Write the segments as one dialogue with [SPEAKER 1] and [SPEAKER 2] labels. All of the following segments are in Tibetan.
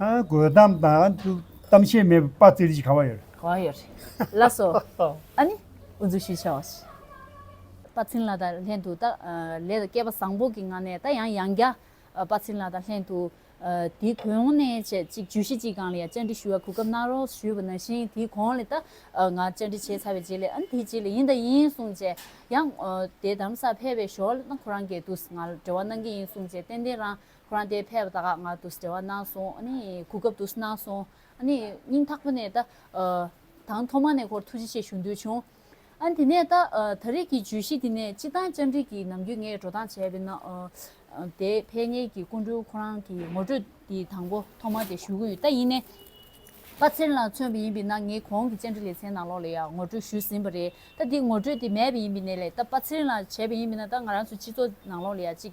[SPEAKER 1] དགོད་གཏམ་དང་གཏམ་བཤད་མེད་པར་དཔའ་ཙིར་གྱིས་གང་བ་ཡོད། གང་བ་ཡོད།
[SPEAKER 2] ལགས་སོ། ཨ་ནི། འུ་ཚོ་ཞིག་བྱ་བ་ཞིག། དཔའ་ཚིན་ལགས་དང་ལྷན་དུ་ད། ལས་ལ་སྐལ་པ་བཟང་པོ་གི་ངང་ནས་ད་ཡང་ཡང་བསྐྱར། དཔའ་ཚིན་ལགས་དང་ལྷན་དུ། དེའི་གོང་ནས་བྱས་ཅིག་བརྗོད་གཞི་གཅིག་གང་ལ་ཡང་བཅར་འདྲི་ཞུ་བར་གོ་སྐབས་གནང་རོགས་ཞུས་པ་ནང་བཞིན་དེའི་གོང་ལ་ད། ང་བཅར་འདྲི་བྱས་ཚར་བའི་རྗེས་ལས་ཨ་ནི་དེའི་རྗེས་ལས་ཡིན་དང་ཡིན་གསུངས་རྗེས། ཡང། དེ་དམ་ས་ཕེབས་པའི་ཞོར་ལ་ད་ཁོ་རང་གའི་དུས་ང་ལ་འབྲེལ་བ་གནང་གི་ཡིན་གསུངས་རྗེས་ཏན་ཏན་རང། རང་དེ་ཕས་པ་དག་ང་དུས་འབྲེལ་བ་གནང་སོང་ཨ་ནི་གོ་སྐབས་དུས་གནང་སོང་ཨ་ནི་སྙིང་ཐག་པ་ནས་ད་དང་ཐོག་མ་ནས་ཁོར་ཐུགས་རྗེ་ཆེ་ཞུ་འདོད་བྱུང་ཨ་ནི་དེ་ནས་ད་ད་རེས་ཀྱི་བརྗོད་གཞི་འདི་ནས་སྤྱི་བཏང་བཅར་འདྲི་གི་ནམ་རྒྱུན་ངས་འགྲོ་སྟངས་བྱས་པའི་ནང་དེ་ཕལ་ངེས་ཀྱི་སྐུ་མགྲོན་ཁོ་རང་གི་ངོ་སྤྲོད་འདི་དང་པོ་ཐོག་མ་དེ་ཞུ་གི་ཡོད་ད་ཡིན་ནའི་པ་ཚེར་ལ་མཚོན་པ་ཡིན་པའི་ནང་ངས་གོང་གི་བཅར་འདྲི་ལེ་ཚན་ནང་ལོགས་ལ་ཡང་ངོ་སྤྲོད་ཞུས་ཟིན་པ་རེད་ད་འདི་ངོ་སྤྲོད་དེ་མེད་པ་ཡིན་པའི་ནས་ལས་ད་པ་ཚེར་ལ་བྱས་པ་ཡིན་པའི་ན་ད་ང་རང་ཚོའི་སྤྱི་ཚོགས་ནང་ལོགས་ལ་ཡང་ཅིག་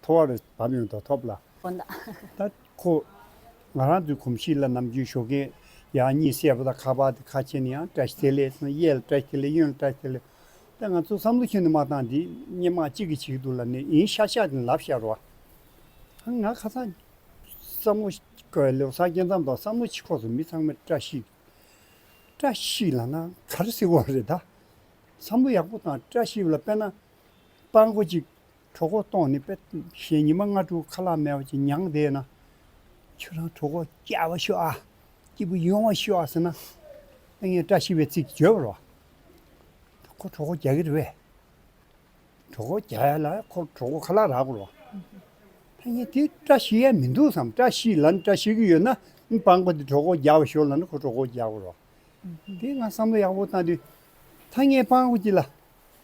[SPEAKER 1] མཐོ་བ་རུ་བབས་ཡོང་དོགས་ཐོབ་ལ། ཁོ་ན། ད་
[SPEAKER 2] ཁོ།
[SPEAKER 1] ང་རང་ཚོའི་གོམས་གཤིས་ལ་ནམ་རྒྱུན་ཞོགས་ཀན། ཡང་གཉིད་སད་པོ་དང་ཁ་བ་དེ་ཁ་ཆེ་ནི་ཡང་བཀྲ་ཤིས་དེ་ལས་སོང་གཡས་ལ་བཀྲ་ཤིས་དེ་ལས་གཡོན་ལ་བཀྲ་ཤིས་དེ་ལས། ད་ང་ཚོ་བསམ་བློ་ཆེན་དུ་མ་བཏང་དེ་སྙན་དམག་གཅིག་གིས་བྱེད་འདུག་ལ་ནི་ཡིན་ཤག་ཤག་དེ་ནི་ལབ་ཤག་རོ། ཧ་ང་ཁ་སང། བསམ་བློ། ཁོ་ལོ་སར་སྐྱེལ་མཚམས་དང་བསམ་བློ་ཕྱི་ཁོག་སུ་མི་ཚང་མས་བཀྲ་ཤིས། བཀྲ་ཤིས་ལ་ང་ག་རེ་ཟེར་དགོས་རེད་ད། བསམ་བློ་ཡག་པོ་དང་བཀྲ་ཤིས་ལ་དཔེར་ན། སྤང་གོ་གཅིག། གྲོགས་ཁོག་སྟོང་ནི་དཔེ། ཞེས་ཉི་མ་ལྔ་དྲུག་ཁ་ལག་མེ་བ་ཅན་མྱང་འདས་ན། ཁྱོད་རང་གྲོགས་ཁོག་སྐྱ་བ་ཤོག་ཨ། སྐྱིད་པོ་ཡོང་བ་ཤོག་ཨ་ཟེར་ན། ལྟས་ངན་བཀྲ་ཤིས་པའི་ཚིག་གིས་བརྗོད་པར་བ། ད་ཁོ་གྲོགས་ཁོག་སྐྱ་གི་རེད་བས། གྲོགས་ཁོག་སྐྱ་ཡ་ལ་ཁོ་གྲོགས་ཁོག་ཁ་ལག་རག་པར་བ། ལྟས་ངན་དེ་བཀྲ་ཤིས་ཡ་མི་འདུག་བསམ་བཀྲ་ཤིས་ལ་ནི་བཀྲ་ཤིས་ཀྱི་ཡོད་ན། སྤངས་པ་དེ་གྲོགས་ཁོག་སྐྱ་བ་ཤོག་ལ་ནི་ཁོ་གྲོགས་ཁོག་སྐྱ་བར་བ། དེ་ང་བསམ་བློ་ཡག་པོ་བཏང་དུས། ལྟས་ངན་སྤངས་པ་ཅི་ལ།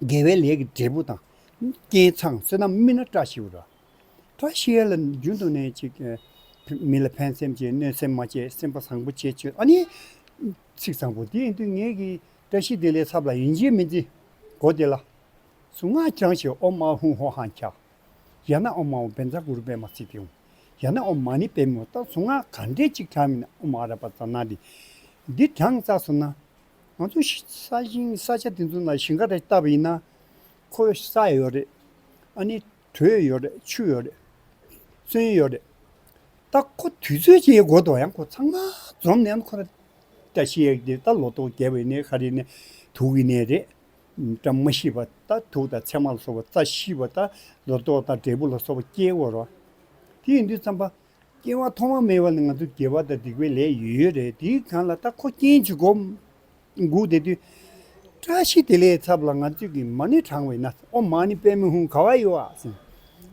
[SPEAKER 1] དགེ་བའི་ལས་ཀྱི་འབྲས་བུ་དང། རྐྱེན་ཚངས་བསོད་ནམས་སྨིན་ན་བཀྲ་ཤིས་རོ། བཀྲ་ཤིས་ལ་རྒྱུན་དུ་ནི་ཅིག། མི་ལ་ཕན་སེམས་ཀྱིས་གནོད་སེམས་མ་བསྐྱེད་སེམས་དཔའ་བཟང་པོ་བྱེད་ཆོས་ཨ་ནི། ཚིག་བཟང་པོ་འདི་ཡིན་ཏུ་ངེས་ཀྱི། བཀྲ་ཤིས་དེ་ལས་ཚབ་ལ་ཡིན་གྱིས་མི་འཛིན། སྒོ་དེ་ལ། གཟུངས་སྔགས་བསྐྱང་ཞིང་ཨོ་མ་ཧུང་ཧོ་ཧང་ཁྱ། ཡང་ན་ཨོ་མ་ཨོ་བན་ཛ་གུ་རུ་པད་མ་སི་ཏིའུ། ཡང་ན་ཨོ་མ་ནི་པད་མོ་ལྟར་གཟུངས་སྔགས་ག་འདྲས་ཅིག་དྲངས་མིན་ཨོ་མ་ཨ་ར་པ་ཛ་ན་ཏི། འདི་དྲངས་ཙག་སོང་ན། ང་ཚོ་ས་ཞིང་ས་ཆ་དེ་ཚོ་ན་ཞིང་ཁ་རེ་བཏབ་ཡིན་ན། ཁོ་བོས་ས་ཡོད་རེད། ཨ་ནི་དྲོད་ཡོད་རེད་ཆུ་ཡོད་རེད། གསོན་ཡོད་རེད། ད་ཁོ་དུས་ཚོད་ཅིག་འགོར་དུ་ཡང་ཁོ་ཚང་མ་འཛོམས་ནས་ཁོ་ར་བཀྲ་ཤིས་ཡག་གི་ད་ལོ་ཏོག་རྒྱས་པའི་ནས་ཤ་རི་ནས་དུག་གི་ནས་རེད། བཀྲ་མ་ཤིས་པ་ད་དུག་དང་ཚེར་མ་ལ་སོགས་པ་རྩ་ཤིས་པ་ད་ལོ་ཏོག་དང་འབྲས་བུ་ལ་སོགས་པ་སྐྱེ་དགོས་རོགས། དེ་ཡིན་དུས་ཚང་པ་སྐྱེ་བ་ཐོག་མ་མེད་པ་ནི་ང་ཚོ་དགེ་བ་དང་སྡིག་པའི་ལས་ཡོད་ཡོད་རེད་དེའི་གང་ལ་ད་ཁོ་རྐྱེན་གྱིས་སྒོ་འགུགས་དེ་དུས་བཀྲ་ཤིས་དེ་ལས་ཚབ་ལ་ང་ཚོས་ཀྱི་མ་ནི་དྲང་བས་ན་ཨོ་མ་ནི་པད་མོ་ཧུང་ག་བ་ཡི་བ་སེང་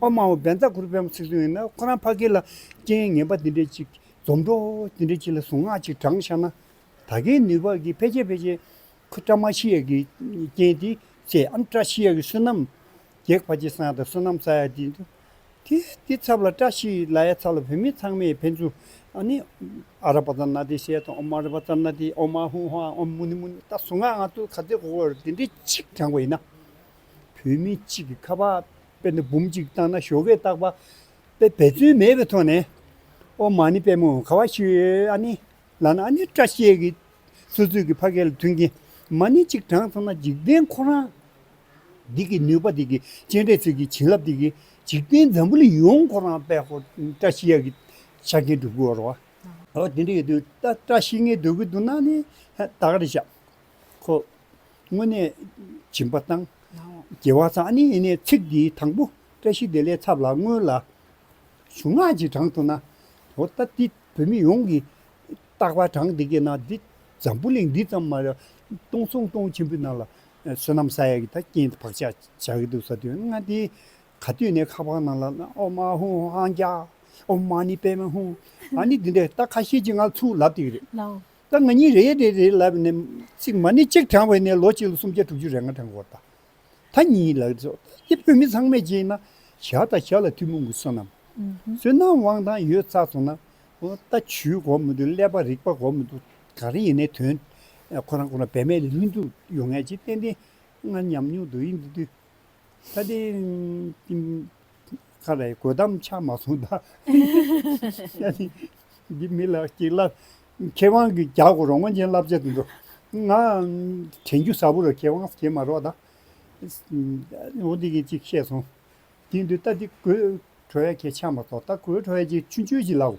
[SPEAKER 1] ཨོ་མ་བ་བན་ཛ་ཁུ་རུ་པད་མོ་ཚིག་ཟུང་ཡིན་ན་ཁོ་རང་ཕ་གི་ལ་རྐྱེན་ངན་པ་དེ་འདྲས་ཅིག་འཛོམས་འགྲོ་དེ་འདྲས་ཅིག་ལ་ཟུངས་སྔགས་ཅིག་དྲངས་ཤག་ན་ད་གེ་ནུས་པ་གི་ཕལ་ཆེར་ཕལ་ཆེར་ཁོ་བཀྲ་མ་ཤིས་ཡ་གི་རྐྱེན་དེ་ཚེ་ཨམ་བཀྲ་ཤིས་ཡ་གི་བསོད་ནམས་རྒྱས་ཕ་ཆེ་སང་དང་བསོད་ནམས་ས་ཡ་དེ་ཚོ། དེ་དེའི་ཚབ་ལ་བཀྲ་ཤིས་ལ་ཡའི་ཚབ་ལ་བོད་མི་ཚང་མས་ཕན་ཚུན། ནི། ཨ་ར་པ་ཙར་ན་དེ་ཤེས་དང་མ་ར་པ་ཙར་ན་དེ་ཨོ་མ་ཧུ་ཧ་ཨོ་མུ་ནི་མུ་ནི་ད་སུ་ང་ང་ཏུ་ག་ཚེ་གོ་གོ་ར་དེ་འདྲའི་གཅིག་དྲངས་པ་ཡིན་ན། བོད་མི་གཅིག་གི་ཁ་བ་པད་ན་འབུམ་གཅིག་བཏང་ན་ཞོ་གས་བཏགས་པ་པའི་འབད་བརྩོན་མེད་པའི་ཐོག་ནས། ཨོ་མ་ནི་པད་མོ་ག་བ་ཞིག་ཨ་ནི། ལ་ན་ཨ་ནི་བཀྲ་ཤིས་ཀྱི་སོ་སོའི་གི་ཕ་སྐད་ལ་མཐུན་གྱི་མ་ནི་གཅིག་དྲངས་སོང་ན་འཇིག་རྟེན་ཁོ་རང། སྡིག་གི་ནུས་པ་སྡིག་གི་སྤྱན་འདྲེན་ཚུལ་གྱིས་བྱིན་རླབས་སྡིག་གི་འཇིག་རྟེན་འཛམ་བུ་ལ་ཡོངས་འཁོར་རང་དཔལ་ཧོ། བཀྲ་ཤིས་ཡ་གི་ཆ་རྐྱེན་སྒྲུབ་དགོས་བར་བ། འོ་དེ་འདྲ་ཡོད་དུས་ད་བཀྲ་ཤིས་ལྔའི་འདོད་དགུ་འདུག་ན་ནི། ད་ག་རེ་བྱ། ཁོ། དངོས་གནས། སྦྱིན་པ་བཏང། རྒྱལ་བ་ཚང་ནི་ཡིན་ནས་ཚིག་འདི་དང་པོ་བཀྲ་ཤིས་བདེ་ལེགས་ཚབ་ལ་བསྔོས་ལ། གཞུང་སྔགས་ཀྱི་གྲངས་ཐོ་ན། འོ་ད་འདི་བོད་མི་ཡོངས་ཀྱི། རྟག་པར་གྲངས་འདི་སྐད་ན་འདི་འཛམ་བུ་གླིང་འདི་ཙམ་མ། སྟོང་གསུམ་སྟོང་ཆེན་པོའི་ནང་ལ་བསོད་ནམས་ས་ཡ་གི་ད་རྐྱེན་དེ་བག་ཆགས་བྱ་གི་འདུག་ས་དུས་སྔ་དེའི་ག་དུས་ནས་ཁ་པར་ནང་ལ་ཨོ་མ་ཧུ་ཧང་ཀྱ། ཨོ་མ་ནི་པེ་མེ་ཧུང། ཨ་ནི་འདི་འདྲས་ད་ཁ་ཤས་ཀྱིས་ང་ལ་ཚུར་ལབ་སྟེ་རེད། ད་ང་གཉིས་
[SPEAKER 2] རེད་རེད་རེད་
[SPEAKER 1] ལབ་ནས་ཚིག་མ་ནི་གཅིག་དྲངས་བས་ནས་ལོ་གཅིག་ལ་སུམ་བརྒྱ་དྲུག་ཅུ་རེ་ང་དྲངས་དགོས་རེད། ད་གཉིས་ལགས་རེད་ཟོ་ཨེ་བོད་མི་ཚང་མས་གྱིས་ན་ཞག་དང་ཞག་ལ་ཐུན་མོང་གི་བསོད་ནམས། བསོད་ནམས་དབང་ཐང་ཡོད་ཚ་ཚོ་ན་ད་ཇུས་གོ་མི་འདུག་ཀླད་པ་རིག་པ་གོ་མི་འདུག་ག་རེ་ཡིན་ནའི་དོན། ཁོ་རང་ཁོ་ན་བེད་མེད་ལྷུན་གྲུབ་ཡོང་ངེས་ཀྱི་ཏན་ཏན་ང་ཉམས་མྱོང་དུ་ཡིན་དུས། ད་ལྟའི་ཀིང་ཁ་རའི་གོས་དམ་ཆག་མ་སོང་ད། འདི་མི་ལ་གཅིག་ལ་མཁས་དབང་གིས་རྒྱག་དགོས་རོགས་མངོན་ཅན་བསླབ་བྱ་དུ་འགྲོ། ང་དྲན་རྒྱུ་ཟབ་པོ་རེད་མཁས་དབང་བྱེད་མ་རོགས་ད། འོ་འདི་གིས་གཅིག་བཤད་སོང། དེ་འདུག་ད་འདི་གོས་བྲོ་བས་ཁྱེད་ཆག་མ་ཐོག་ད་གོས་བྲོ་བས་ཀྱིས་ཆུ་འཆོལ་ཅིག་ལབ།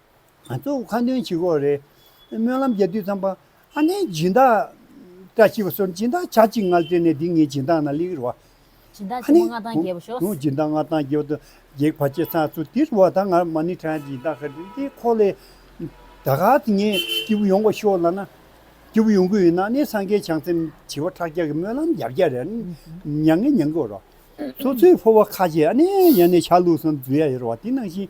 [SPEAKER 1] ང་གཙོ་བོ་ཁ་འདོན་བྱེད་ཁོ་རེད། སྨོན་ལམ་རྒྱས་དུས་ཙམ་པ། ཨ་ནེ་སྦྱིན་བདག། བཀྲ་ཤིས་པ་སོགས་སྦྱིན་བདག་བྱ་གཅིག་མངལ་སྤྲེལ་ནས་འདི་ངའི་སྦྱིན་བདག་ན་ལེགས་རོ། སྦྱིན་བདག་ཆེན་མོ་མངའ་
[SPEAKER 2] ཐང་རྒྱས་པ་ཤོག། སྦྱིན་བདག་མངའ་ཐང་རྒྱས་པ་
[SPEAKER 1] དང་སྒེག་བ་བཅས་ཚང་ཚུལ་དེ་རུ་བ་ད་ངར་མ་ནི་ཁྲ་ཡང་སྦྱིན་བདག་ག་དེ་ཁོ་ལས། ད་ག་དེ་ངའི་སྐྱེས་བུ་ཡོང་བ་ཤོག་ལ་ན། སྐྱེས་བུ་ཡོང་གི་ཡོད་ན་ཨ་ནེ་སངས་རྒྱས་བྱང་སེམས་བྱེ་བ་ཕྲག་བརྒྱ་གི་སྨོན་ལམ་བརྒྱ་བརྒྱ་རེ་མྱང་ངེ་མྱང་གི་རོ། སོ་སོའི་ཕོ་བ་ཁ་ཆེ་ཨ་ནེ་ཡང་ནས་ཆ་ལུགས་སམ་རྫུས་ཡ་ཡོད་རོ་བ་དེ་ནང་བཞིན་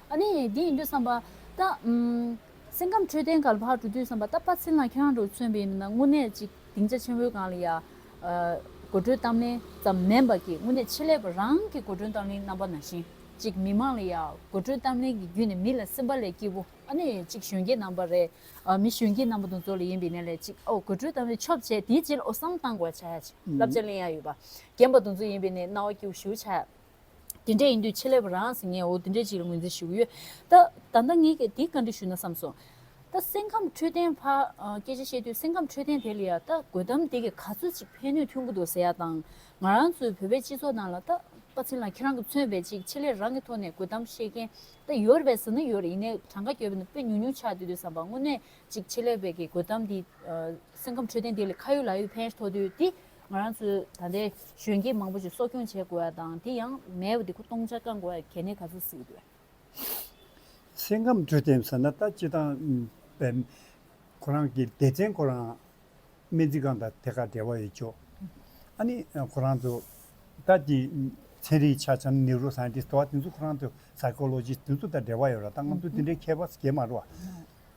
[SPEAKER 2] ཨ་ནི། འདི་ཡིན་དུས་བསམ་པ། ད། སེམས་ཁམས་འཕྲོད་བསྟེན་གར་ཕར་འགྲོ་དུས་བསམ་པ་ད་ཕར་ཕྱིན་ལ་ཁྱེད་རང་གྲོ་མཚོན་པའི་མི་སྣ་དངོས་གནས་ཅིག་སྡིངས་ཆ་ཆེན་བོའི་སྒང་ལ་ཡར། དགོད་བྲོའི་གཏམ་གླེང་ཙམ་མིན་པ་ཀྱིས་དངོས་གནས་ཆེད་ལས་པ་རང་གི་དགོད་བྲོའི་གཏམ་གླེང་རྣམ་པ་ནང་བཞིན་ཅིག་མི་མང་ལ་ཡར་དགོད་བྲོའི་གཏམ་གླེང་གི་བརྒྱུད་ནས་མི་ལ་སེམས་པ་ལས་སྐྱིད་པོ་ཨ་ནི་ཅིག་གཞོན་སྐྱེས་རྣམ་པ་རེ། མི་གཞོན་སྐྱེས་རྣམ་པ་དང་ཚོ་ལས་ཡིན་པའི་གནས་ལས་ཅིག་ཨོ་དགོད་བྲོའི་གཏམ་གླེང་ཆོབ་བྱས་དེའི་རྗེས་ལ་ཨོ་བསམ་བཏང་དགོས་བྱ་ཡ་ཅིག་བསླབ་བྱ་གླེང་ཡ་ཡོད་པ་རྒན་པ་དང་ཚོ་ཡིན་པའི་གནས་སྣང་བ་སྐྱིད་བོ་ཞུ་བྱ་ཡ། དེ་འདྲས་ཡིན་དུས་ཕྱེ་ལེབ་རང་ཟིན་ངས་འོ་དེ་འདྲས་ཅིག་ལ་ངོས་འཛིན་ཞུ་གི་ཡོད། ད་ལྟ་ངས་ཀྱང་དེའི་བཀའ་འདྲི་ཞུས་ན་བསམ་སོང། ད་སེམས་ཁམས་འཕྲོད་བསྟེན་ཕ། སྐད་ཆ་བཤད་དུས་སེམས་ཁམས་འཕྲོད་བསྟེན་དེ་ལ་ཡ་ད་དགོད་དམ་དེ་གིས་ག་ཚོད་ཅིག་ཕན་ནུས་ཐོན་གི་འདུག་ཟེར་ཡ་དང། ང་རང་ཚོའི་བོད་པའི་སྤྱི་ཚོགས་ནང་ལ་ད། པ་ཚིན་ལ་ཁྱེད་རང་གིས་མཚོན་པའི་ཅིག་ཕྱེ་ལེབ་རང་གི་ཐོག་ནས་དགོད་དམ་བཤད་མཁན་ད་ཡོད་རེད་ཟེར་ན་ཡོད་ཡིན་ནའི་གྲངས་ཀ་གྱོད་པའི་ནང་དཔེ་ཉུང་ཉུང་ཆགས་དུས་དུས་བསམ་པ་དངོས་གནས་ཅིག་ཕྱེ་ལེབ་བས་ཀྱི་དགོད་དམ་དེས། སེམས་ཁམས་འཕྲོད་བསྟེན་དེ་ལས་ཁ་ཡོད་ལག་ཡོད་ཕན་ཐོགས་དུས་དེ། ང་རང་ཚོས་ད་ལྟའི་གཞོན་སྐྱེས་མང་པོ་ཞིག་གསོ་སྐྱོང་བྱེད་དགོས་པ་དང་དེ་ཡང་མེད་པ་འདི་ཁོ་སྟོང་ཆ་བསྐང་དགོས་པ་གལ་གནད་ག་ཚོད་སུས་འདོད། སེམས་ཁམས་
[SPEAKER 1] དུས་དེབ་ཟེར་ན་ད་སྤྱི་བཏང་པའི་ཁོ་རང་གི་སྡེ་ཚན་ཁོ་རང་སྨན་རྩིས་ཁང་དང་དེ་ཁ་འབྲེལ་བ་ཡོད་ཆོག་ཨ་ནི་ཁོ་རང་ཚོ་ད་ཀྱི་ཚན་རིག་ཆ་འཆམ Neuro Scientist དེ་བ་དེ་ཚོ་ཁོ་རང་ཚོ Psychologist དེ་ཚོ་དང་འབྲེལ་བ་ཡོད་ར་ད་ང་ཚོ་དེ་འདྲའི་མཁས་པ་སྐྱེས་མ་རུ་བ།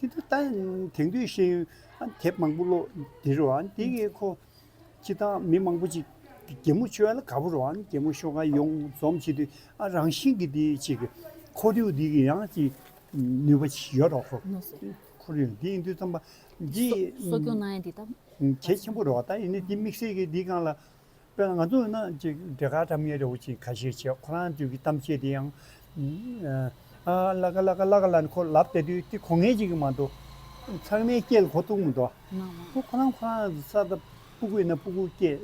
[SPEAKER 1] དེ་དུས་ད་དེང་དུས་ཤེས་ཡོན་དེབ་མང་པོ་ཀློག་དེ་རུ་དེ་གི་ཁོ་ཅི་ད་མི་མང་པོ་ཅིག་རྒྱལ་མོ་ཆོས་ལ་དགའ་པོ་རུ་རྒྱལ་མོ་ཤོ་ཀ་ཡོང་འཛོམས་བྱེད་དུས་ཨ་རང་བཞིན་གི་དེ་ཅིག་ཁོར་ཡུག་དེ་གི་ཡང་ཅིག་ནུས་པ་ཅིག་ཡོད་རོགས་ཁོ་ཁོར་ཡུག་དེ་ཡིན་དུས་རྩམ་པ་འདི་གསོ་སྐྱོང་གནང་ཡ་འདི་ད།
[SPEAKER 2] གལ་ཆེན་པོ་རུ་
[SPEAKER 1] བ་ད་ཡིན་ནི་དེ་དམིགས་བསལ་གི་དེ་གང་ལ། དཔེར་ན་ང་ཚོ་ནང་གཅིག་འདྲེ་ག་དམ་ཉེ་རེའུ་ཆེན་ཁ་ཤས་བྱས་ཁོ་རང་དུས་ཀྱི་གཏམ་བཤད་དེ་ཡང། ཨ་བླ་ག་བླ་ག་བླ་ག་བླ་ནི་ཁོ་ལབ་བསྡད་དུས་དེ་གོ་ངེས་ཅིག་གི་མ་འདུག་ཚང་མའི་སྐྱེས་ལ་གོ་ཐུག་མི་འདུག་ཨ་ཁོ་རང་ཁོ་རང་གི་ས་ད་སྤུ་གུ་ཡིན་ན་སྤུ་གུ་སྐྱེས་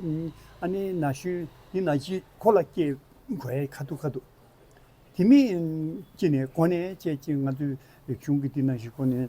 [SPEAKER 1] ཨ་ནི་ན་གཞོན་ཡིན་ན་གཞིས་ཁོ་ལ་སྐྱེས་དགོས་ཡ་ཁ་ཐུག་ཁ་ཐུག་དེ་མིན་ཅི་ནས་གོ་ནས་བྱས་ཅི་ང་ཚོའི་གཞུང་གི་དེ་ན་གཞིས་ཁོ་ནས།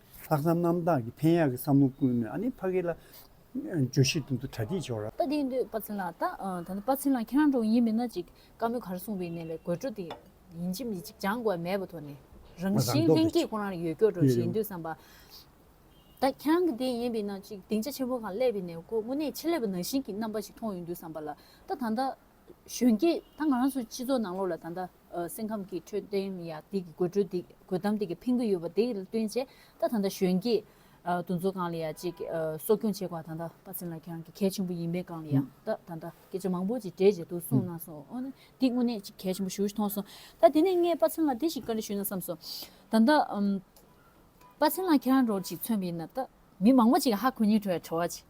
[SPEAKER 1] ལྷག་བསམ་རྣམ་དག་གིས་ཕན་ཡག་གི་བསམ་བློ་ཀུན་ནས་ཨ་ནེ་ཕ་གི་ལ་འགྱོད་བཞིན་དུ་འདུག་གྲ་སྒྲིག་བྱེད་རོགས། ད་དེ་འདོད་དཔའ་ཚེ་ལགས་
[SPEAKER 2] ད་ད་ནི་དཔའ་ཚེ་ལགས་ཁྱེད་རང་འགྲོ་ཡིན་མིན་ན་ཅིག་དཀའ་མོད་གར་སོང་བའི་ནས་ལས་དགོད་བྲོ་དེ་ཡིན་གྱི་མི་ཅིག་ཅང་དགོས་པ་མེད་པ་ཐོག་ནས་རང་བཞིན་ལྷན་སྐྱེས་ཁོ་རང་ཡོད་སྐྱོ་བྲོ་བཞེས་འདོད་བསམ་པ་ད་ཁྱེད་རང་གི་དེ་ཡིན་པའི་ན་ཅིག་སྡིངས་ཆ་ཆེན་པོ་གང་སླེབས་པའི་ནས་ཁོ་དངོས་གནས་ཆེ་ལེ་བ་ནང་བཞིན་གྱི་རྣམ་པ་ཞིག་མཐོང་ཡོད་འདོད་བསམ་པ་ལ་ད་ད་ད་གཞོན་སྐྱེས་ད་ང་རང་ཚོ་སྤྱི་ཚོགས་ནང་ལོགས་ལ་ད་ད། སེམས་ཁམས་ཀྱི་འཕྲོད་བསྟེན་ཡ་དེ་གི་དགོད་བྲོ་དགོད་གཏམ་དེ་གི་ཕན་གི་ཡོད་པ་དེ་ལ་བསྟུན་ཆེ་ད་ད་ད་གཞོན་སྐྱེས་དུ་ཚོ་གང་ལ་ཡ་ཅིག་གསོ་སྐྱོང་བྱེད་དགོས་པ་ད་ད་པ་སེམས་ལ་ཁྱང་གི་གལ་ཆེན་པོ་ཡིན་པས་གང་ལ་ཡ་ད་ད་ད་སྐད་ཆ་མང་པོ་ཅིག་འདྲེས་བྱེད་དུ་སོང་ན་སོང་ཨོ་ན་དེ་དངོས་གནས་ཅིག་གལ་ཆེན་པོ་ཞུ་ཞུ་ཐོང་སོང་ད་དེ་ནས་ངས་པ་སེམས་ལ་དེ་ཞིག་ག་རེ་ཞུ་ན་བསམ་སོང་ད་ད་པ་སེམས་ལ་ཁྱང་རོགས་ཅིག་མཚོན་པ་ཡིན་ན་ད་མི་མང་པོ་ཅིག་ཧ་གོ་ཉིན་བྲོ་ཡ་བྲོ་བ་ཅིག།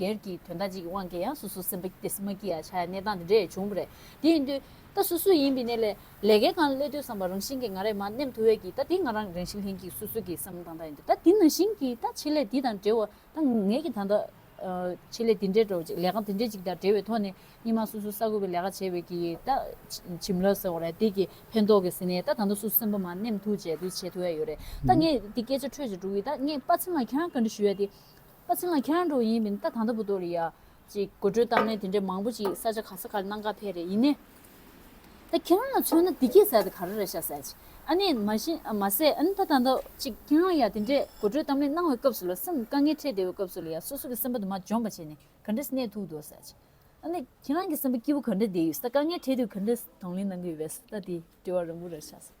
[SPEAKER 2] སྒེར་གྱི་དོན་དག་ཅིག་གི་དབང་གིས་ཡང་སོ་སོ་སེམས་པ་སྐྱིད་སེམས་མ་སྐྱིད་ཡ་ཆ་ཡ་གནས་སྟངས་དེ་འདྲས་བྱུང་བ་རེད། དེ་ཡིན་དུས། ད་སུ་སུ་ཡིན་པའི་གནས་ལས། ལས་ཀའི་གང་སླད་ཐོས་བསམ་པ་རང་བཞིན་གྱིས་ང་རེ་མ་ནེམ་ཐུ་བས་ཀྱིས་ད་དེ་ང་རང་རང་བཞིན་ལྷན་སྐྱིད་སུ་སུ་གྱིས་བསམ་བློ་བཏང་ད་ཡིན་དུས་ད་དེ་ནང་བཞིན་གྱིས་ད་ཆེད་ལས་དེ་དང་འབྲེལ་བ་ད་ངེད་ཀྱིས་ད་ལྟ། ཆེད་ལས་དེ་འདྲས་འགྲོ་བ་ཅིག་ལས་ཀ་དེ་འདྲས་ཅིག་དང་འབྲེལ་བའི་ཐོག་ནས་གཉིས་མ་སུ་སུ་ས་དགོས་པའི་ལས་ཀ་བྱས་བས་ཀྱིས་ད། བྱིན་རླབས་ཟེར་བ་རེད་དེ་ཀྱིས་ཕན་ཐོག་གི་ཟིན་ནས་ད་ད་ལྟ་སུ་སུ་སེམས་པ་མ་ནེམ་ཐུ་བྱས་དུས་བྱེད་ཐུ་ཡ་ཡོད་རེད། ད་ངས་དེ་སྐད་ཆ་འཕྲོད་ཅིག་འགྲོ་གིས་ད་ངས་དཔའ་ཚིམ་ལ་ཁྱེད་རང་ག་འདྲི་ཞུ་ཡ་དེ། ཨ་ཚེ་ལགས་ཁྱེད་རང་འགྲོ་ཡིན་མིན་ད་ད་ལྟ་བུ་ཏོ་རི་ཡ་གཅིག་དགོད་བྲོའི་གཏམ་གླེང་དེ་འདྲས་མང་བོ་ཅིག་ས་ཆ་ག་ས་ག་རེ་གནང་ག་ཕེ་རེད་ཡིན་ནའི། ད་ཁྱེད་རང་ལ་མཚོན་ན་དེ་གྱིས་ཟེར་དེ་ག་རེ་རེད་ཤ་ཟེར་ཅིག་ཨ་ནི་མ་གཞི་མ་ཟད་ཨ་ནི་ད་ད་ལྟ་བུ་ཅིག་ཁྱེད་རང་ཡ་དེ་འདྲས་དགོད་བྲོའི་གཏམ་གླེང་གནང་བའི་སྐབས་སུ་ལ་སེམས་དཀའ་ངལ་འཕྲད་བདེ་བའི་སྐབས་སུ་ལ་ཡ་སོ་སོ་གི་སེམས་པ་དུ་མ་འཇོམས་པ་བྱས་ནས་ག་འདྲས་གནས་ཐུག་འདུག་ཟེར་ཅིག་ཨ་ནི་ཁྱེད་རང་གི་སེམས་པ་སྐྱིད་བོ་ག་འདྲས་བདེ་ཡོད་ས་དཀའ་ངལ་འཕྲད་དུས་ག་འདྲས་དང་ལེན་གནང་གི་ཡོད་བས་ད་དེའི་དྲི་བ་རང་བུ་རེད་ཤ་ཟེར།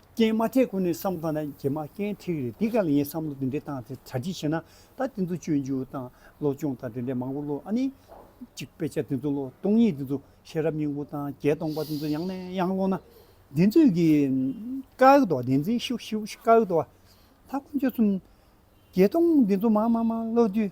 [SPEAKER 1] རྐྱེན་མ་ཐེག་གོ་ནས་བསམ་བློ་བཏང་ན་རྗེས་མ་རྐྱེན་ཐེག་རེད་དེ་ག་ལ་ཡིན་བསམ་བློ་དེ་འདྲའི་བཏང་ཚེ་གྲ་སྒྲིག་བྱས་ན་ད་དེ་ཚོ་སྤྱོད་འཇུག་དང་སློབ་སྦྱོང་དང་དེ་འདྲའི་མང་པོ་བློ་ཨ་ནི། གཅིག་དཔེ་ཆ་དེ་ཚོ་བློ་སྟོང་ཉིད་དེ་ཚོ་ཤེས་རབ་སྙིང་པོ་དང་རྒྱལ་སྟོང་པ་དེ་ཚོ་ཡང་ནས་ཡང་བློ་ན་བདེན་རྫུན་གྱི་དཀའ་ཨེ་ཐོག་བདེན་རྫུན་ཤི་བོ་ཤི་བོ་ཤི་དཀའ་ཨེ་ཐོག་ད་ཁོ་ཚོ་གསུམ་རྒྱལ་སྟོང་དེ་ཚོ་མང་མང་མང་བློ་བསྡུས།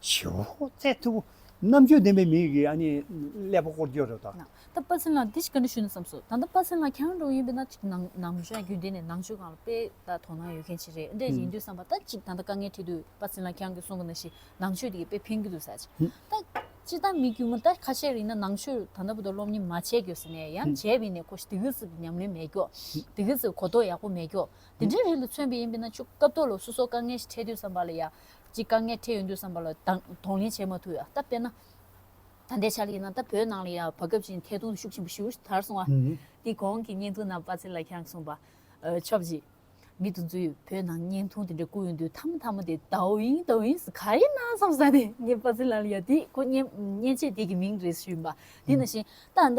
[SPEAKER 1] བྱེད་པོ་བཙལ་ཐུབ་བོ། རྣམ་དཔྱོད་ལྡན་པའི་མིས་གིས་ཨ་ནི་ཀླད་པ་བསྐོར་རྒྱུ་རེད་དོ། ད་དཔའ་ཚན་ལགས་འདི་
[SPEAKER 2] ཞིག་ག་འདྲ་ཞུས་ན་བསམ་སོང་ད་ལྟ་དཔའ་ཚན་ལགས་ཁྱེད་རང་འགྲོ་ཡིན་པས་ན་ཅིག་ནང་ནང་བཞིན་རྒྱུན་ལྡན་ནས་ནང་ཆོས་གང་ལ་དཔེ་ལྟ་དོ་སྣང་ཡོད་མཁན་ཞིག་རེད་འདྲ་ཡིན་དུས་བསམ་པ་ད་ཅིག་ད་ལྟ་དཀའ་ངལ་འཕྲད་དུས་དཔའ་ཚན་ལགས་ཁྱེད་རང་གིས་གསུང་གི་ན་ཞིག་ནང་ཆོས་དེ་གས་དཔེ་ཕན་གི་འདུག་ཟེར་ད་ཅི་ད་མི་དཀྱུས་མ་ད་ཁ་ཤས་རིང་ན་ནང་ཆོས་ད་ནང་པོ་ད་སློབ་གཉེར་མ་བྱས་གྱོ་ཟེར་ནས་ཡང་བྱས་བས་ནས་ཁོ་ཤི་དེ་གི་ཚིག་གི་ཉམས་ལེན་མེད་གྱོ་དེ་གི་ཚིག་གི་གོ་རྟོགས་ཡག་པོ་མེད་གྱོ་དེ་འདྲའི་རིགས་ལ་མཚོན་པས་ཡིན་པས་ན་ཆུ་རྐ་བཏོག་ལ་སོ་སོ་དཀའ་ངལ་ཞིག་འཕྲད་དུས་བསམ་པ་ལ་ཡ། ཀྱི་དཀའ་ངལ་འཕྲད་ཡོང་དུས་བསམ་པ་ལ་དང་ལེན་བྱེད་མ་ཐུབ་ཡང་སྟབས་བསྟན་ན། ད་ལྟའི་ཆར་ཡིན་ན་ད་བོད་ནང་ལ་ཡང་བག་སྐབས་ཀྱི་ཐད་གཏོང་ཤུགས་ཆེན་པོ་ཞུ་དར་སོང་བ། དེའི་གོང་གི་བརྙན་ཐུང་ནང་པ་ཚེ་ལ་ཁྱང་གསུངས་པ། ཆོག་གཅིག། མི་དུ་ཚོས་བོད་ནང་བརྙན་ཐུང་དེ་འདྲ་བཀུག་ཡོང་དུས་མཐའ་མ་མཐའ་མ་དེ་དའོ་ཡིན་དའོ་ཡིན་ཟེར་ག་ཡིན་ནམ་བསམ་ས་ནས་ངས་པ་ཚེ་ལ་ཡང་དེ་ཁོ་བརྙན་བརྙན་ཆས་དེ་གི་མིང་རེད་ཞུས་ཡིན་པ། དེ་ནང་བཞིན་ད་ལྟ།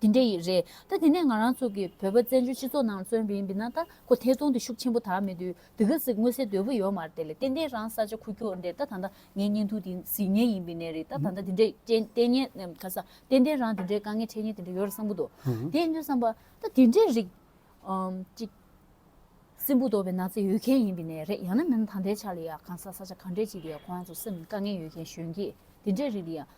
[SPEAKER 2] དེ་འདྲ་ཡི་རེད་ད་དེ་ནས་ང་རང་ཚོ་གི་བོད་པ་བཙན་བྱོལ་སྤྱི་ཚོགས་ནང་བཙོན་བི་འི་ན་ད་ཁོ་ཐེ་ཚོང་དེ་ཤུགས་ཆེན་པོ་དར་མེད་དུས་འདི་ག་ཟིག་དངོས་སེ་དོད་པོ་ཡོད་མ་རེད་ལེ་ཏན་ཏན་རང་ས་ཆ་ཁུ་ཁྱོ་འདེར་ད་ད་ད་ངའི་གཉེན་ཐུ་དེ་ཟིག་ངའི་ཡིན་བི་ནས་རེད་ད་ད་ད་དེ་འདྲ་ཅན་ཏན་ཉན་ག་ས་ཏན་ཏན་རང་དེ་འདྲའི་དཀའ་ངལ་འཕྲད་ཉེན་དེ་འདྲ་ཡོད་རེད་བསམ་པོ་དོ་དེ་ནུས་བསམ་པ་ད་དེ་འདྲའི་རིགས་ཅིག་སེམས་པོ་དོ་བི་ན་ཚེ་ཡོད་མཁན་ཡིན་བི་ནས་རེད་ཡང་ན་མི་ན་ད་ལྟའི་ཆ་ལེ་ཡ་གང་ས་ས་ཆ་གང་འདྲའི་ཅིག་ལེ་ཡ་ཁོ་རང་ཚོ་སེམས་དཀའ་ངལ་ཡོད་མཁན་གཞོན་སྐྱེས་དེ་འདྲའི་རིགས་ལེ་ཡ།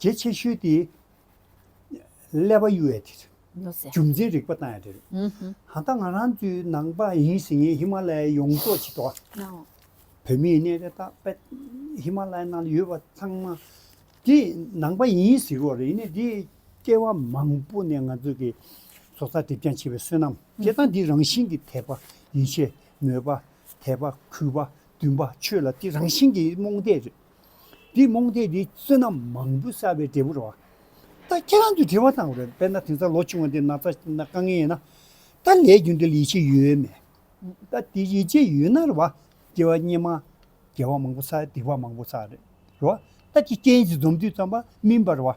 [SPEAKER 1] རྒྱས་ཆེ་ཤོས་དེ་ཀླད་པ་གཡོ་བའི་དེ་རེད། རྒྱུ་མཚན་
[SPEAKER 2] རིག་པ་བཏང་ཡ་དེ་
[SPEAKER 1] རེད། ད་ལྟ་ང་རང་ཚོའི་ནང་པ་ཡིན་ཟེར་མཁན་ཧི་མ་ལ་ཡའི་ཡོངས་རྫོགས་ཆེ་མདོག་
[SPEAKER 2] བོད་མིའི་གནས་རེ་
[SPEAKER 1] དག་པད་ཧི་མ་ལ་ཡའི་ནང་ལ་ཡོད་པ་ཚང་མ་དེ་ནང་པ་ཡིན་ཟེར་རོགས་རེད་ནས་དེ་སྐྱེ་བ་མང་པོ་ནས་ང་ཚོ་གི་སོ་སར་དེབ་རྐྱང་བྱེད་པའི་བསོད་ནམས་དེ་དང་དེ་རང་བཞིན་གྱི་དད་པ་ཡིན་ཤེས་མོས་པ་དད་པ་གུས་པ་འདུན་པ་ཆོས་ལ་དེ་རང་བཞིན་གྱི་རྨོངས་དད་རེད། འདིས་རྨོངས་དད་འདིས་བསོད་ནམས་མང་པོ་བསགས་པའི་འབྲས་བུ་རེད་བ། ད་ཁྱེད་རང་ཚོས་དྲི་བ་བཏང་བ་རེད་དཔེར་ན་དེང་སང་ལོ་ཆུང་བ་འདི་ན་ཚ་ན་དཀའ་ངལ་ཡོད་ན། ད་ལས་རྒྱུ་འདི་ལ་ཡིད་ཆེས་ཡོད་མེད། ད་དེ་ཡིད་ཆེས་ཡོད་ན་རེད་བ། དེ་བ་སྙེ་མ། དགེ་བ་མང་པོ་བསགས་སྡིག་བ་མང་པོ་བསགས་རེད་བ། ད་ཀྱི་རྐྱེན་གྱིས་འཛོམས་དུས་ཙམ་པ་མིན་པ་རེད་བ།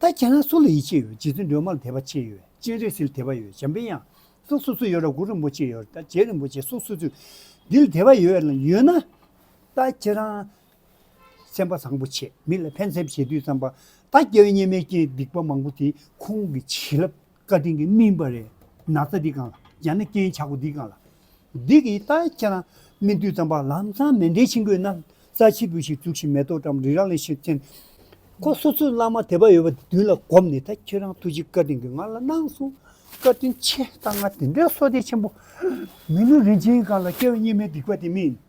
[SPEAKER 1] ད་ཁྱེད་རང་སུ་ལ་ཡིད་ཆེས་ཡོད་རྗེ་བཙུན་སྒྲོལ་མ་ལ་དད་པ་ཆེ་ཡོད་སྤྱན་རས་གཟིགས་ལ་དད་པ་ཡོད་བྱམས་པའི་ཡང་སྲིད་སོ་སོ་ཡོད་ར་གུ་རིན་པོ་ཆེ་ཡོད་ར་རྗེ་རིན་པོ་ཆེ་སོ་སོ་ཚུལ་འདི་ལ་དད་པ་ཡོད་ན། ལྟ། ཁྱེད་རང་སེམས་པ་བཟང་པོ་ཆེ། མི་ལ་ཕན་སེམས་བྱེད་དུས་ཙམ་པ། ལྟ། སྐྱེ་བོ་སྙེ་མའི་རྐྱེན་སྡིག་པ་མང་པོ་དེ་ཁོང་གི་བྱིན་རླབས་བཀའ་དྲིན་གྱི་སྨིན་པ་རེད། ན་ཚ་འདི་གང་ལ། ཡང་ན་རྐྱེན་ཆག་པོ་འདི་གང་ལ། འདི་གི་ལྟ། ཁྱེད་རང་སྨིན་དུས་ཙམ་པ་ལམ་སང་མེ་འདྲའི་ཕྱིང་གོས་ན་ཚ་ཆིལ་བུ་ཞིག་བཙུགས་ཤིང་མེ་ཏོག་གྲམ་རིགས་རང་ལས་ཤིག་བཙེན། ཁོ་སོ་སོའི་བླ་མ་དད་པ་ཡོད་པ་དེ་མདུན་ལ་བསྒོམ་ནས་ད་ཁྱེད་རང་ཐུགས་རྗེ་བཀའ་དྲིན་གྱི་ང་ལ་གནང་སོང། བཀའ་དྲིན་ཆེ། ལྟ་ང་དེ་འདྲའི་སོ་སྡེ་ཆེན་པོ། མི་ལུས་རིན་ཆེན་གང་ལ་སྐྱེ་བོ་སྙེ་མའི་སྡིག་པ་དེ་སྨིན།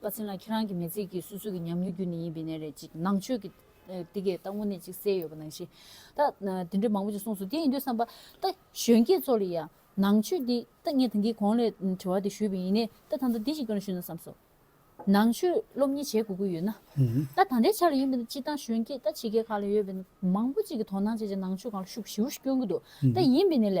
[SPEAKER 2] བཀའ་སྩལ་ན་ཁྱེད་རང་གི་མེས་ཚིག་གིས་སོ་སོ་གི་ཉམས་མྱོང་རྒྱུ་ནི་ཡིན་པའི་ནས་རེད་ཅིག་ནང་ཆོས་ཀྱི། འདི་གས་ད་དངོས་གནས་ཅིག་གསལ་ཡོད་པ་ནང་བཞིན། ད། དེ་འདྲས་མང་པོ་ཅིག་གསུངས་སོང་དེ་ཡིན་དུས་བསམ་པ། ད་གཞོན་སྐྱེས་ཚོ་ལ་ཡང། ནང་ཆོས་འདི། ད་ངས་དེང་གི་གོང་ལས་དྲི་བ་དེ་ཞུས་པ་ཡིན། ད་ད་ལྟ་འདི་ཞིག་ཀྱང་ཞུས་ན་བསམས་སོ། ནང་ཆོས་སློབ་གཉེར་བྱེད་དགོས་ཀྱི་ཡོད་ན། ད་ད་འདྲའི་ཆ་ལ་ཡིན་པ་ནི་སྤྱིར་བཏང་གཞོན་སྐྱེས་ད་ཕྱི་རྒྱལ་ཁག་ལ་ཡོད་པའི། མང་པོ་ཅིག་གིས་དོ་སྣང་བྱེད་ཅིང་ནང་ཆོས་གང་ལ་ཤུགས་ཞིའུ་ཞིག་སྐྱོན་གྱི་འདུག་ད་ཡིན་པའི་ནས་ལས།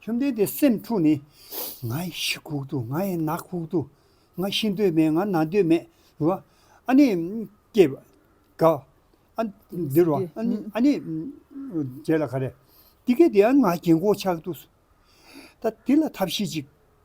[SPEAKER 1] བཅོམ་ལྡན་འདས་སེམས་འཁྲུགས་ནས། ང་ཡི་ཤི་ཁུག་ཏུ་ང་ཡི་ནག་ཁུག་ཏུ། ང་ཤི་འདོད་མེད་ང་ན་འདོད་མེད། འདུལ་བ། ཨ་ནི། སྐྱེ། རྒ། ཨ། འདུལ་བ། ཨ་ནི། རྒྱལ་ལ་ག་རེ། འདི་སྐད་དེ་ཨ་ནི་ང་རྒྱལ་མགོ་ཆག་ཏུ། ད་དེ་ལ་ཐབས་ཤེས་ཅིག།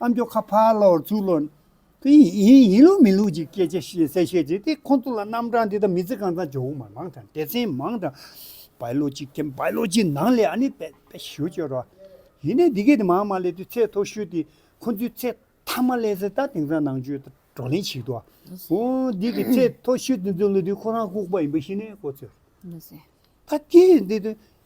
[SPEAKER 1] ཨ་མཆོག་ཁ་ཕར་སློག་ཚུར་སློག། དེ་ཡིན་ཡིན་ལུགས་མིན་ལུགས་ཀྱི་སྐད་ཆ་བཤད་གསལ་བཤད་བྱེད་དེ་ཁོང་ཚོ་ལ་རྣམ་གྲངས་འདི་དང་མི་ཚེ་གང་ཚང་ཇོ་བོ་མར་མང་དང་སྡེ་ཚན་མང་དང། བའི་ལོ་གཅིག་གམ་བའི་ལོ་གཅིག་ནང་ལས་ཨ་ནི་པའི་པའི་ཞུ་བཅོས་རོགས། ཡིན་ནའི་འདི་གས་དེ་མང་མང་ལས་དུས་ཚད་མཐོ་ཤོས་དེ་ཁོང་ཚོའི་ཚད་མཐའ་མ་ལས་ཟེར་ད་དེང་སང་ནང་ཆོས་དང་བགྲོ་གླེང་བྱེད་དུ་ཨོ། འདི་གས་ཚད་མཐོ་ཤོས་དེ་ཚོའི་ལོ་དུས་ཁོ་རང་ལྐུགས་པ་ཡིན་པ་ཤེས་ནའི་ཀོ་ཚོད།
[SPEAKER 2] ད་དེས་
[SPEAKER 1] འདི་དོན་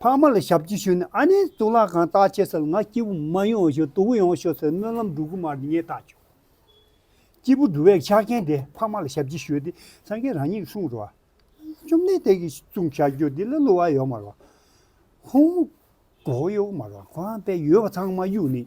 [SPEAKER 1] ཕ་མ་ལ་ཞབས་ཀྱིས་ཞུས་ནས་ཨ་ནེ་གཙུག་ལག་ཁང་བརྟག་ཆས་སུ་ལ་ང་སྐྱིད་པོ་མ་ཡོང་བ་ཞིག་དུག་ཡོང་ཤོག་ཟེར་སྨོན་ལམ་འགྲོ་གི་མ་རེད་ངས་བརྟག་བྱུང། སྐྱིད་པོ་འགྲོ་བའི་ཆ་རྐྱེན་དེ་ཕ་མ་ལ་ཞབས་ཀྱིས་ཞུས་ཏེ་སངས་རྒྱས་རང་ཉིད་ཀྱིས་གསུངས་རོགས། བཅོམ་ལྡན་འདས་ཀྱིས་གསུངས་བྱ་རྒྱུ་འདི་ལ་བསླུ་བ་ཡོད་མ་རེད། ཁོང་མོ་གོག་ཡོད་མ་རེད་ཁོ་རང་པས་ཡོད་པ་ཚང་མ་གཡུགས་ནས་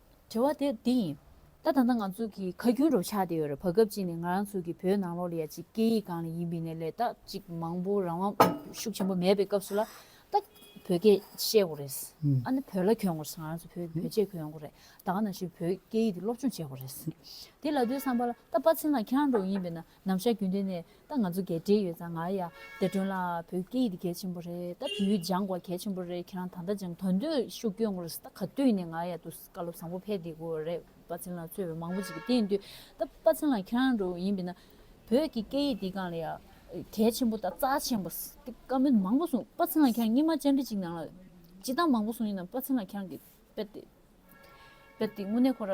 [SPEAKER 2] དྲི་བ་དེ་འདི་ཡིན། ད་ད་ནངས་ང་ཚོ་གི་ཁ་རྒྱུན་རོ་ཆགས་ཏེ་ཡོད་རེད་བ་སྐབས་གཅིག་ནས་ང་རང་ཚོ་གི་བོད་ནང་ལོག་ལ་ཡ་གཅིག་སྐད་ཡིག་གང་ལ་ཡིན་པིན་ནས་ལས་ད་གཅིག་མང་པོ་རང་དབང་ཤུགས་ཆེན་པོ་མེད་པའི་སྐབས་སུ་ལ་ད་བོད་སྐད་བཤད་དགོ་རེད། ཨ་ནི་བོད་ལ་གྱོན་དགོ་རེད་ང་རང་ཚོ་བོད་བོད་ཆས་གྱོན་དགོ་རེད་ད་ག་ནང་བཞིན་བོད་སྐད་ཡིག་དེ་སློབ་སྦྱོང་བྱེད་དགོ་རེད། དེ་ལ་དུས་སམ་པ་ལ་ད་པ་ཚིན་ལ་ཁྱེད་རང་འགྲོ་གི་ཡིན་པིན་ན་ནམ་ཞར་རྒྱུན་ལྡན་ནས་ད་ང་ཚོ་གས་འབྲེལ་ཡོད་ཙང་ང་ཡ་བདེ་སྒྲོན་ལགས་བོད་སྐད་ཡིག་འདི་གལ་ཆེན་པོ་རེད་ད་བོད་ཡིག་སྦྱང་དགོས་གལ་ཆེན་པོ་རེད་ཁྱེད་རང་ད་ལྟ་སྦྱང་དོན་དུ་ཤུགས་བསྐྱོན་དགོས་རེད་ད་ག་དུས་ནས་ང་ཡ་དུ་བཀའ་སློབ་བཟང་པོ་ཕེལ་བསྡད་དགོས་རེད་དཔའ་ཚན་ལགས་ཚོད་བས་མང་པོ་བྱེད་ཀྱི་བསྟན་དུས་ད་དཔའ་ཚན་ལགས་ཁྱེད་རང་རུ་ཡིན་པས་ན་བོད་ཀྱི་སྐད་ཡིག་འདི་གང་ལ་ཡ་གལ་ཆེན་པོ་ད་རྩ་ཆེན་པོ་ད་བཀའ་མོལ་མང་པོ་གསུངས་དཔའ་ཚན་ལགས་ཁྱེད་རང་སྙིང་མ་ཅར་འདྲི་ཅིག་ནང་ལ་སྤྱི་གཏམ་མང་པོ་གསུངས་ཡིན་ནམ་དཔའ་ཚན་ལགས་ཁྱེད་རང་གིས་དཔེ་དེབ་དེ་དངོས་གནས་ཁོ་ར་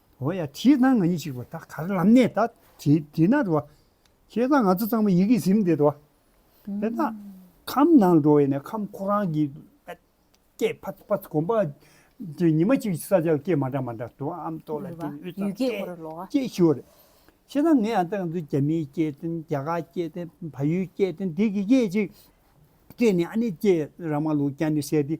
[SPEAKER 1] འོ་ཡ་ཁྱེད་དང་ང་གཉིས་གཅིག་པ་ད་ག་རེ་ལམ་ནས་ད་དེས་ན་འགྲོ་བ། ཁྱེད་དང་ང་ཚོ་ཚང་མ་ཡི་གེ་ཟིན་དེ་འགྲོ་བ། དེ་ན་ཁམས་ནང་འགྲོ་བས་ན་ཁམས་ཁོ་རང་གི་སྐད་ཕར་ཕར་གོམ་པ། དེ་ཉི་མ་གཅིག་ས་སྐྱ་སྐད་མ་འདྲ་མ་འདྲ་འགྲོ་བ་ཨམ་ཏོག་ལ་དེ་ཡུད་ཙམ་སྐད་
[SPEAKER 2] སྐད་ཞུ་བ་རེད།
[SPEAKER 1] ཁྱེད་དང་ངའི་ཨ་ཏག་ཚོ་རྒྱ་མིའི་སྐད་དོན་རྒྱ་དགའ་སྐད་དོན་ཕ་ཡུལ་སྐད་དོན་དེ་གི་སྐད་ཅིག་སྐད་ནི་ཨ་ནི་སྐད་ར་མ་ལུག་རྐྱ་ནི་བཤད་དེ།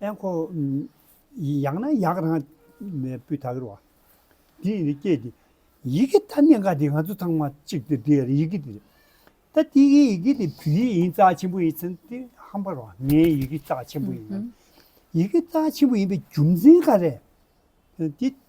[SPEAKER 1] ཨེ་ཁོ། ཡག་ན་ཡག་རང་སྤུས་དག་རེད་བ། དེ་ཡིན་སྐད་དེ། ཡི་གེ་ཐ་སྙད་འགའ་དེ་ང་ཚོ་ཚང་མ་གཅིག་སྟེ་དེ་ཡི་གེ་དེ། ད་ལྟའི་ཡི་གེ་དེ་བོད་ཡིག་ཡིན་རྩ་ཆེན་པོ་ཡིན་ཚེ་དེ་ཧམ་པར་བ་ངའི་ཡི་གེ་རྩ་ཆེན་པོ་ཡིན། ཡི་གེ་རྩ་ཆེན་པོ་ཡིན་པའི་རྒྱུ་མཚན་ག་རེད། དེ།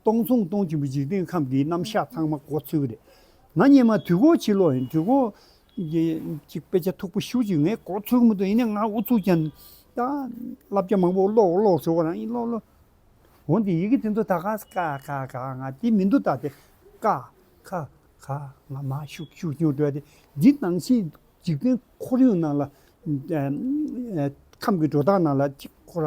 [SPEAKER 1] སྟོང་སྟོང་སྟོང་ཆེན་པོའི་འཇིག་རྟེན་ཁམས་འདིའི་རྣམ་གཞག་ཚང་མ་གོ་ཚོད་རེད། ང་སྙེ་མ་དུས་འཁོར་ཕྱི་ལོགས་ཡིན་དུས་འཁོར། གཅིག་དཔེ་ཆ་མཐུག་པོ་ཤུགས་ཀྱིས་ངས་གོ་ཚོད་མི་ཐུབ་ཡིན་ནའི་ང་ཨུ་ཚུགས་ཅན། ད་བསླབ་བྱ་མང་པོ་ཀློག་ཀློག་ཞོག་རང་ཡིག་ཀློག་ཀློག། འོན་ཏེ་ཡི་གེ་དེ་ཚོ་ད་ག་ས་ག་ག་ག་ང་དེ་མི་འདུག་ད་དེ་ཀ་ཁ་ཁ་ང་མ་ཤུགས་ཤུགས་ཀྱིས་བྲོས་ཏེ་འདི་སྣང་སྲིད་འཇིག་རྟེན་ཁོར་ཡུག་ནང་ལ། ཁམས་ཀྱི་སྒྲོ་བཏགས་ནང་ལ་གཅིག་ཁོ་ར།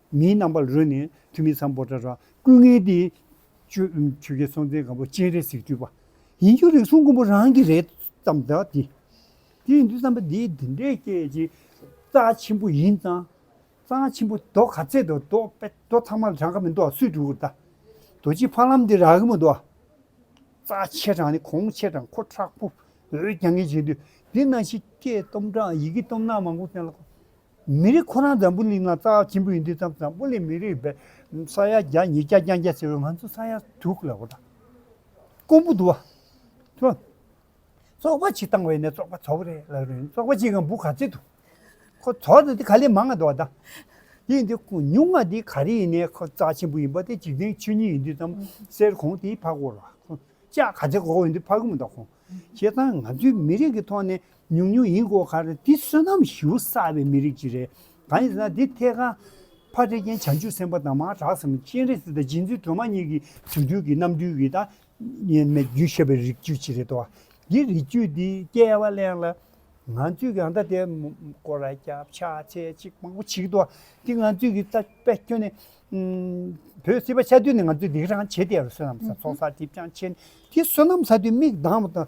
[SPEAKER 1] མིའི་རྣམ་པར་རོལ་ནས་ཐུ་མི་ཚང་པོ་ཏྲ་ར་ཀུན་ངའི་དེ། ཆོས་ཆོས་རྒྱལ་སྲོང་བཙན་སྒམ་པོ་སྤྱན་རས་གཟིགས་སྤྲུལ་པ། ཡིན་རྒྱུ་རེག་སོང་མགོན་པོ་རང་གི་རེད་བསམ་ད་དེ། དེ་ཡིན་དུས་བསམ་པ་འདི་འདི་འདྲའི་སྐད་ཅིག། རྩ་ཆེན་པོ་ཡིན་ཙང། རྩ་ཆེན་པོ་རྡོ་ག་ཚད་དུ་རྡོ་དཔེ་རྡོ་ཚང་མ་རང་ག་མི་འདུག་བ་སུས་བསྒྲུག་ད། རྡོ་རྗེ་ཕ་ལམ་འདི་རག་གི་མི་འདུག་བ། རྩ་ཆེ་དྲག་ནི་གོང་ཆེ་དྲག་ཁོ་ཁྲག་པོ་འོད་རྒྱ་ངེས་བྱེད་དུས་འདི་ན་ཤི་སྐད་གཏོམ་དྲག་ཡི་གེ་གཏོམ་ནག་མང་པོ་བསྟན་ལ། མི་རིགས་ཁོ་རང་འཛམ་བུ་གླིང་ན་རྩ་བ་ཆེན་པོ་ཡིན་དུས་ཙམ་འཛམ་བུ་གླིང་མི་རིགས་བས་ས་ཡ་བརྒྱ་ཉིས་བརྒྱ་རྐྱང་བརྒྱ་ཟེར་བའི་ང་ཚོ་ས་ཡ་དྲུག་ལ་འོ་ད་ཀོང་པོ་འདུ་བ་ཐོན། ཙོག་པ་ཆིག་བཏང་བས་ནས་ཙོག་པ་ཚོགས་པ་རེད་ལབ་རེད་ཙོག་པ་ཆིག་གམ་བུ་ག་ཚོད་འདུག་ཁོ་ཚོགས་ནས་དེ་ག་ལས་མང་ང་འདུག་བ་ད་དེ་ཡིན་དུས་ཉུང་ང་དེ་ག་རེ་ཡིན་ནས་ཁོ་རྩ་ཆེན་པོ་ཡིན་པ་དེ་འཇིག་རྟེན་ཆོས་ཉིད་ཡིན་དུས་ཙམ་གསེར་གོང་དེའི་ཕ་གོར་བ་ཁོ་ཅག་ག་ཚོད་གོ་གོ་ཡིན་དུས་ཕ་གི་མོ་ད་ཁོང་ཁྱེད་ཚང་ང་ཚོའི་མི་རིགས་ཀྱི་ཐོག་ནས་ཉུང་ཉུང་ཡིན་དགོས་ཁར་འདི་བསོད་ནམས་ཞུ་ས་བའི་མི་རིགས་ཅིག་རེད། གང་ཡིན་ཟེར་ན་འདི་ཐད་ཀར་ཕ་འདྲེ་རྒྱན་བྱང་ཆུབ་སེམས་དཔའ་དང་མ་གྲགས་སམ་སྤྱན་རས་གཟིགས་དང་རྗེ་བཙུན་སྒྲོལ་མ་གཉིས་ཀྱི་དུས་དུས་ཀྱི་རྣམ་འཕྲུལ་གྱི་དང། མེད་རྒྱུན་ཤེས་པའི་རིགས་རྒྱུད་ཅིག་རེད་དོ། འདི་རིགས་རྒྱུད་འདི་སྐྱེ་བ་གླེང་ལ། ང་ཚོས་ཀྱང་ད་ལྟའི་སྐོར་ར་རྒྱབ་ཆགས་ཚད་ཅིག་མང་པོ་བྱེད་ཀྱི་འདུག་འདི་ང་ཚོས་ཀྱི་ད་དཔེ་ཁྱོན་ནས། བོད་སིལ་བ་ཆ་དུས་ནས་ང་ཚོས་འདི་རང་བྱེད་དེ་བསོད་ནམས་ས་ཚོགས་ས་ཐིབ་ཅང་ཆེ་ནས་འདི་བསོད་ནམས་ས་དུས་མིག་གདངས་པ་དང་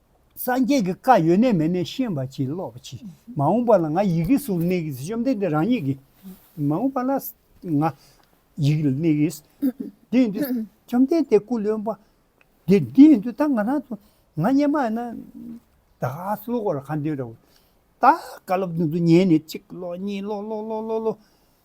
[SPEAKER 1] སངས་རྒྱས་ཀྱི་བཀའ་ཡོད་ནས་མེད་ནས་ཤེས་པ་གྱིས་ཀློག་པ་གྱིས་མ་འོངས་པ་ལ་ང་ཡི་གེ་སུ་གནས་གིས་བཅོམ་ལྡན་འདས་རང་ཉིད་ཀྱིས་མ་འོངས་པ་ལ་ང་ཡི་གེ་གནས་གིས། དེ་ཡིན་དུས་བཅོམ་ལྡན་འདས་སྐུ་ལོན་པ། དེ་འདི་ཡིན་དུས་ད་ང་རང་ཚོ་ང་སྙེ་མ་ན་ད་ག་ལོ་གོ་ལ་ག་འདི་ར་བ། ད་ག་ལོ་བདུན་ཚོ་ཉལ་ནས་གཅིག་ཀློག་གཉིས་ཀློག་ཀློག་ཀློག་ཀློག་ཀློག།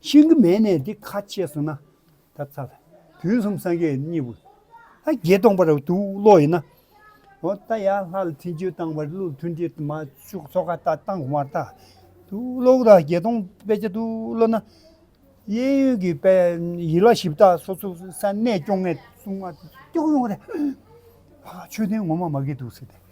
[SPEAKER 1] ཤིང་གི་མས་ནས་འདི་ཁ་ཕྱེས་སོང་ན། ད་ཚ་ལ། དུས་གསུམ་སངས་རྒྱས་གཉིས་པོ། ད་རྒྱས་སྟོང་པར་དུ་བློ་ཡིན་ན། འོ་ད་ཡར་ལྷ་ལ་ཐིན་ཅོད་བཏང་བར་གླུ་ལ་ཐུན་དྲི་མ་བྱུག་ཚོ་ཁ་ད་བཏང་བར་ད། དུ་བློ་ད་རྒྱས་སྟོང་དཔེ་ཆ་དུ་བློ་ན། གཡས་གཡོན་གྱི་དཔེ་ཡིད་ལ་ཞིབ་ད་སོ་སོ་ས་གནས་སྐྱོང་ངས་གསུང་མ་ཏོག་ཡོང་རེད། ཧ་ཧ་ཆོས་ལྡན་ངོ་མ་མ་གི་འདུག་སེ་ཏེ།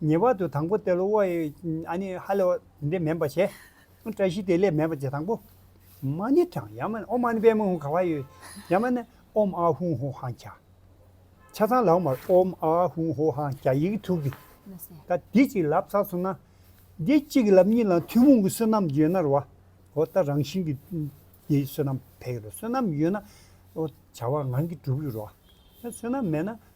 [SPEAKER 1] ངེས་པར་དུ་དང་པོ་སྟེ་ལོ་བ་ཡི། ཨ་ནི་ཧ་ལས་བ་དེ་འདྲས་མེད་པར་བྱས། བཀྲ་ཤིས་དེ་ལས་མེད་པར་བྱས་དང་པོ། མ་ནི་ཀྲང་ཡ་མ་ནི་ཨོ་མ་ནི་པའི་མ་ཧུང་ག་བ་ཡོད། ཡ་མ་ནི་ཨོམ་ཨ་ཧུང་ཧོ་ཧང་གྱ། ཆ་ཚང་ལའོ་མར་ཨོམ་ཨ་ཧུང་ཧོ་ཧང་གྱ་ཡིག་གི་ཐུགས་ཀྱི། ད་འདི་
[SPEAKER 2] གཅིག་ལབ་
[SPEAKER 1] ཚར་སོང་ན། འདི་གཅིག་གི་ལབ་གཉིས་ལའང་ཐུན་མོང་གི་བསོད་ནམས་ཡོད་ན་རུ་བ། ཨོ་ད་རང་བཞིན་གྱི། འདི་བསོད་ནམས་བས་ཀྱི་རུ་བ་བསོད་ནམས་ཡོད་ན། ཨོ་བྱ་བ་ངང་གིས་འགྲུབ་ཀྱི་རུ་བ། བསོད་ནམས་མེད་ན།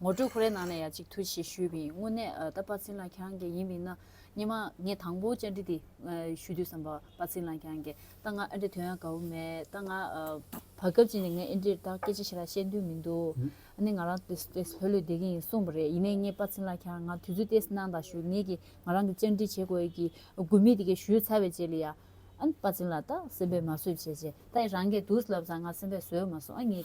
[SPEAKER 2] ངོ་སྤྲོད་ཁོ་རའི་ནང་ནས་ཡ་གཅིག་ཐུགས་རྗེ་ཆེ་ཞུས་པ་ཡིན་དངོས་གནས་ཨ་ད་པ་ཚིན་ལགས་ཁྱང་གེ་ཡིན་པའི་ན་སྙེ་མ་ངས་དང་པོ་བཅར་འདྲི་དེ་ཞུ་དུས་བསམ་པ་པ་ཚིན་ལགས་ཁྱང་གེ་ད་ང་ཨ་འདྲེ་དོན་ཡང་ག་བུ་མེད་ད་ང་བར་སྐབས་གཅིག་ནས་ངས་ཨེ་འདྲེར་དག་སྐད་ཆ་ཞེ་ལ་བཤད་འདུན་མི་འདུག་ཨ་ནི་ང་རང་ཏེ་སུ་ཏེ་ལྷོད་ལྷོད་བསྡད་ཀྱི་ཡིན་གསུངས་པ་རེད་ཡིན་ནའི་ངས་པ་ཚིན་ལགས་ཁྱང་ང་དུས་ཚོད་ཏེ་གནང་དང་ཞུ་ངེས་ཀྱི་ང་རང་གི་བཅར་འདྲི་བྱེད་དགོས་ཀྱི་དགོས་མེད་དེ་གས་ཞུས་ཚར་བའི་རྗེས་ལ་ཡ་ཨ་ནི་པ་ཚིན་ལགས་ད་སེམས་པས་མ་བཟོད་བྱས་རྗེས་ད་ཡ་རང་གས་དུས་ལབ་ཙང་ང་སེམས་པས་བཟོད་མ་སོང་ཨ་ངས།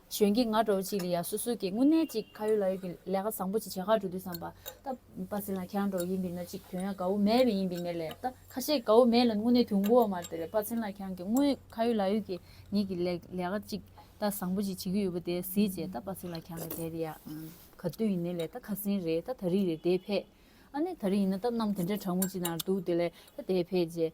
[SPEAKER 2] གཞོན་སྐྱེས་ང་འདྲ་བ་ཅིག་ལ་ཡང་སོ་སོ་གིས་དངོས་གནས་ཅིག་ཁ་ཡོད་ལག་ཡོད་ཀྱི་ལས་ཀ་བཟང་པོ་ཅིག་བྱེད་ཁག་འགྲོ་དུས་བསམ་པ། ད་པ་ཟིན་ལ་ཁྱེད་རང་འདྲ་བ་ཡིན་པའི་ན་ཅིག་དོན་ཡང་དགའ་བོ་མེད་པས་ཡིན་པའི་ངེས་ལས་ད་ཁ་ཤས་དགའ་བོ་མེད་ལ་དངོས་གནས་དུས་འགོ་བ་མར་དེ་རེད་པ་ཟིན་ལ་ཁྱེད་རང་གིས་དངོས་ཁ་ཡོད་ལག་ཡོད་ཀྱི་ངེད་ཀྱི་ལས་ལས་ཀ་ཅིག་ད་བཟང་པོ་ཅིག་བྱེད་ཀྱི་ཡོད་པ་དེ་གཟིགས་རྗེས་ད་པ་ཟིན་ལ་ཁྱེད་རང་གིས་དེ་རེད་ཡ། ག་དུས་ཡིན་ནའི་ལས་ད་ཁ་ཟིན་རེད་ད་ད་རིགས་རེད་དེ་ཕེད། ཨ་ནི་ད་རིགས་ཡིན་ན་ད་གནམ་དེ་འདྲའི་གྲང་མོ་ཅིག་ན་འདུག་དེ་ལས་ད་དེ་ཕེད་རྗེས།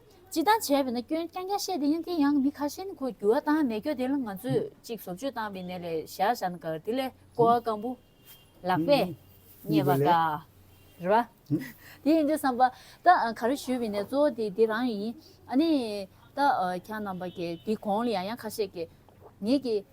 [SPEAKER 2] སྤྱི་བཏང་བྱས་པས་ན་སྐྱོན་རྐྱང་རྐྱང་བཤད་དེ་ཡང་དེ་ཡང་མི་ཁ་ཤེན་ཁོ་འགྱུར་བ་བཏང་མེད་སྐྱོ་དེ་ལ་ང་ཚོས་ཅིག་བཟོ་བཅོས་བཏང་པའི་ནས་ལས་བཞག་བཞག་ན་གར་དེ་ལས་ཀོ་བ་སྐམ་པོ་ལག་པས་རྙེད་པ་དགའ་རེད་བ། དེ་ཡིན་དུས་བསམ་པ། ད་ག་རེ་ཞུས་པའི་ནས་གཙོ་བོ་དེ་དེ་རང་ཡིན། ཨ་ནི། ད་གྱ་རྣམ་པ་གྱ་དེ་གོང་ལ་ཡང་ཡང་ཁ་ཤས་ཀྱི། ངེད་ཀྱི།